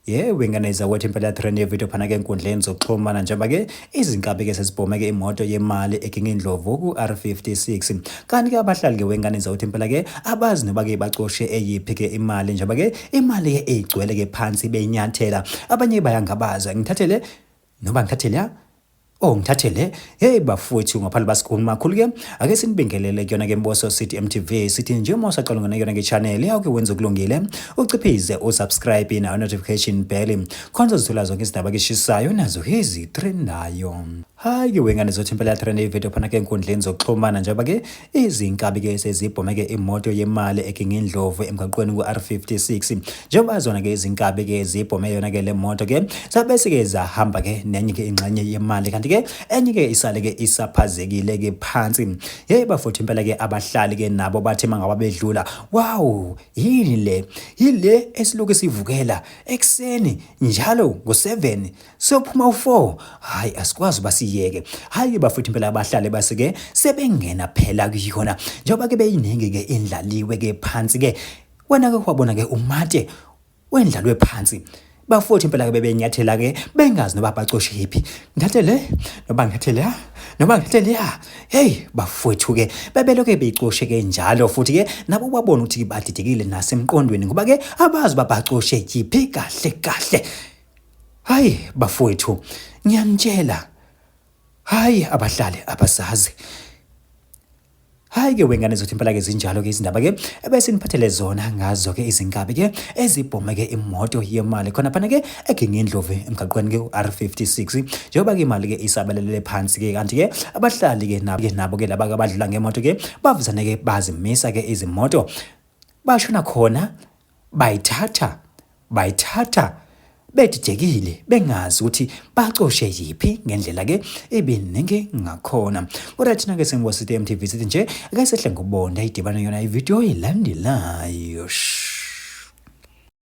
yewe nganayizwa ukuthi impela trend yevidiyo phana ke enkundleni zokuxhumana njengoba ke izinkabi ke sezibhomeke imoto yemali ekingindlovu ku-r56 kanti ke abahlali ke wenganayizwa ukuthi impela ke abazi noba ke bacoshe eyiphi ke imali njengoba ke imali ke eyigcwele ke phansi benyathela abanye bayangabaza ngithathele noba ngithathele ya Oh ngithathe le hey bafowethu ngaphandle basikhulu makhulu ke ake sinibingelele kuyona ke Mboso City MTV sithi nje uma usaqala ngona kuyona ke channel yakho wenza okulungile uciphize usubscribe na notification bell khona uzithola zonke izindaba keshisayo nazo hezi trend nayo hayi ke wengane zothi impela trend ivideo phana ke enkundleni zokuxhumana njengoba ke Izinkabi ke sezibhome ke imoto yemali eKingindlovu emgaqweni ku-R56 njengoba zona ke izinkabi ke zibhome yona ke le moto ke zabe sike zahamba ke nenye ke ingxenye yemali kanti ke enye ke isale ke isaphazekile ke phansi hey bafuthu impela ke abahlali ke nabo bathi mangaba bedlula wow yini le yile esiloku sivukela ekseni njalo ngo7 sophuma u4 hayi asikwazi basiyeke hayi bafuthi impela abahlale basike sebengena phela kuyona njengoba ke beyiningi ke indlaliwe ke phansi ke wena ke wabona ke umate wendlalwe phansi bafuthi impela ke bebenyathela ke bengazi noba bacoshe yiphi ngathe le noba ngathe la noba ngathe le hey bafwethu ke bebeloke beyicoshe ke njalo futhi ke nabo babona ukuthi badidekile nasemqondweni ngoba ke abazi babacoshe yiphi kahle kahle Hayi bafowethu, ngiyanitshela. Hayi abahlali abasazi. Hayi ke wengane zothi impela ke zinjalo ke izindaba ke ebese niphathele zona ngazo ke izinkabi ke ezibhome ke imoto yemali khona phana ke eGingindlovu emgaqweni ke uR56 njengoba ke imali ke isabelele phansi ke kanti ke abahlali ke nabo ke nabo ke laba abadlula ngemoto ke bavuzane ke bazimisa ke izimoto bashona khona Bayithatha, bayithatha bedidekile bengazi ukuthi bacoshe yiphi ngendlela ke ebeningi ngakhona kodwa thina ke sengibosithe emtv sithi nje ake sehle ngobonda idibane yona ividiyo elandelayo